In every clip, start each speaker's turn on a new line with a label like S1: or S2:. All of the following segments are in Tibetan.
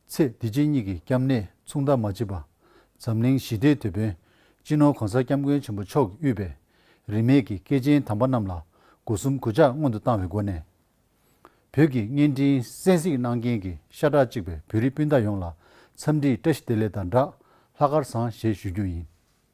S1: ཚེ་འདི་ཕྱི་གཉིས་ཀྱི་སྐྱབས་གནས་མཚུངས་ཟླ་མ་བྱེད་པ། འཛམ་གླིང་ཞི་བདེའི་དེད་དཔོན་སྤྱི་ནོར་གོང་ས་སྐྱབས་མགོན་ཆེན་པོ་མཆོག་གི་དབུས་པའི་རིས་མེད་ཀྱི་སྐྱེས་ཆེན་དམ་པ་རྣམས་ལ་སྒོ་གསུམ་གུས་ཕྱག་སྔོན་དུ་བཏང་བའི་སྒོ་ནས། བོད་ཀྱི་བརྙན་འཕྲིན་གསན་གཟིགས་གནང་མཁན་གྱི་ཤ་ཁྲག་གཅིག་པའི་བོད་རིགས་སྤུན་ཟླ་ཡོངས་ལ་འཚམས་འདྲིའི་བཀྲ་ཤིས་བདེ་ལེགས་དང་སྦྲགས་ལྷ་དཀར་བཟང་ཞེས་ཞུ་རྒྱུ་ཡིན།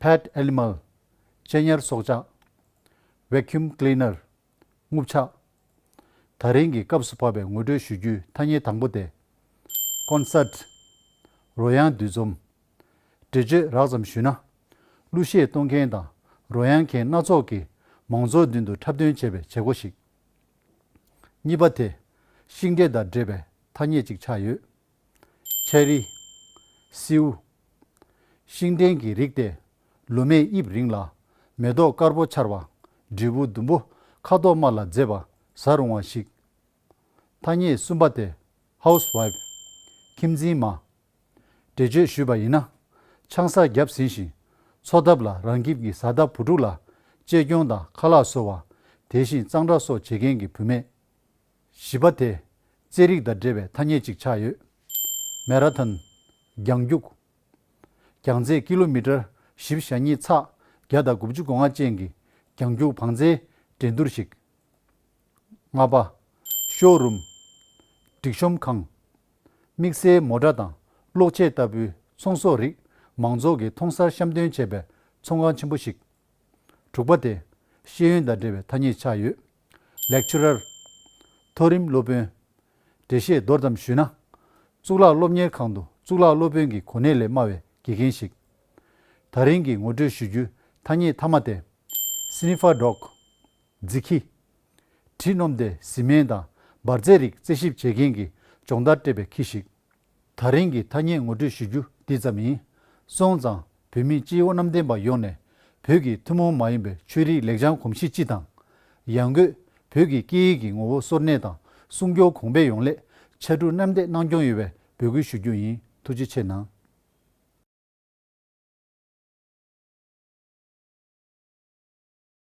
S1: Pet Animal། གཅེས་ཉར་སྲོག་ཆགས། Vacuum Cleaner། རྔུབ་ཆ། ད་རིང་གི་སྐབས་སུ་བབས་པའི་ངོ་སྤྲོད་ཞུ་རྒྱུའི་ཐ་སྙད་དང་པོ་སྟེ། Concert། རོལ་དབྱངས་འདུས་འཛོམས། འགྲེལ་བརྗོད་རགས་ཙམ་ཞུས་ན། གླུ་གཞས་གཏོང་མཁན་དང་རོལ་དབྱངས་མཁན་སྣ་ཚོགས་ཀྱིས་མང་ཚོགས་མདུན་དུ་འཁྲབ་སྟོན་བྱེད་པའི་བྱེད་སྒོ་ཞིག། གཉིས་པ་དེ། ཤིང་འབྲས་དང་འདྲེས་པའི་ཐ་སྙད་ཅིག་ཆགས་ཡོད། ཆའི་རིགས། སེའུ། ཤིང་འབྲས་ཀྱི་རིགས་ཏེ། ལོ་མས་དབྱིབས་རིང་ལ། མེ་ཏོག་དཀར་པོ་འཆར་བ། འབྲས་བུ་ཟླུམ་པོ། ཁ་དོག་དམར་ལ་མཛེས་པ། ཟ་རུང་བ་ཞིག། ཐ་སྙད་གསུམ་པ་སྟེ། House Wife། ཁྱིམ་འཛིན་མ། འགྲེལ་བརྗོད་ཞུས་པ་ཡིན་ན། ཆང་ས་བརྒྱབ་ཟིན་ཞིང། འཚོ་ཐབས་ལ་རང་ཁྱིམ་གྱི་བཟའ་ཟླ་བུ་ཕྲུག་ལ། གཅེས་སྐྱོང་དང་ཁ་ལག་བཟོ་བ། དེ་བཞིན་གཙང་སྦྲ་སོགས་བྱེད་མཁན་གྱི་བུད་མེད། བཞི་པ། དེ་རྩའི་རིགས་དང་འབྲེལ་བའི་ཐ་སྙད་ཅིག་ཆགས་ཡོད། Marathon། རྒྱང་རྒྱུགས། རྒྱང་ཚད་ཀི་ལོ་མི་ཀྲར་བཞི་བཞག་གཉིས་ཚགས་བརྒྱ་དང་དགུ་བཅུ་གོ་ལྔ་ཅན་གྱི་རྒྱང་རྒྱུགས་བང་རྩའི་འགྲན་བསྡུར་ཞིག། ལྔ་པ། ཤོ་རུམ། སྒྲིག་ཤོམ་ཁང། དམིགས་བསལ་མོ་ཀྲ་དང་གློག་ཆས་ལྟ་བུའི་ཚོང་ཟོག་རིགས་མང་ཚོགས་ཀྱིས་མཐོང་སར་བཤམས་སྟོན་བྱེད་པའི་ཚོང་ཁང་ཆེན་པོ་ཞིག། དྲུག་པ། དེ་ཤེས་ཡོན་དང་འབྲེལ་བའི་ཐ་སྙད་ཆགས་ཡོད། Lecturer། མཐོ་རིམ་སློབ་དཔོན། འགྲེལ་བཤད་མདོར་ཙམ་ཞུས་ན། གཙུག་ལག་སློབ་གཉེར་ཁང་དུ་གཙུག་ལག་སློབ་དཔོན་གྱི་གོ་གནས་ལས་དམའ་བའི་དགེ་རྒན་ཞིག་ད་རིང་གི་ངོ་སྤྲོད་ཞུ་རྒྱུའི་ཐ་སྙད་མཐའ་མ་སྟེ། Sniffer Dog། རྫི་ཁྱི། དྲི་སྣོམ་སྟེ་བཟི་སྨན་དང་འབར་རྫས་རིགས་རྩད་ཞིབ་བྱེད་མཁན་གྱི་སྦྱོང་བརྡར་སྤྲད་པའི་ཁྱི་ཞིག་ཐག་རིང་གི་ཐ་སྙད་ངོ་སྤྲོད་ཞུ་རྒྱུ་འདི་ཙམ་ཡིན། སོང་ཙང་བོད་མི་སྤྱི་ཡོངས་གནམ་བསྟན་པ་ཡོངས་ནས་བོད་ཀྱི་ཐུན་མོང་མ་ཡིན་པའི་ཆོས་རིག་ལེགས་བྱང་གོམས་གཤིས་སྤྱི་དང། ཡང་སྒོས་བོད་ཀྱི་སྐད་ཡིག་གི་ངོ་བོ་སོར་གནས་དང་སྲུང་སྐྱོང་གོང་འཕེལ་ཡོང་སླད་ཕྱར་གྲུ་གནམ་འདེགས་གནང་སྐྱོང་ཡོད་པའི་འབོད་སྐུལ་ཞུ་རྒྱུ་ཡིན་ཐུགས་རྗེ་ཆེ་གནང།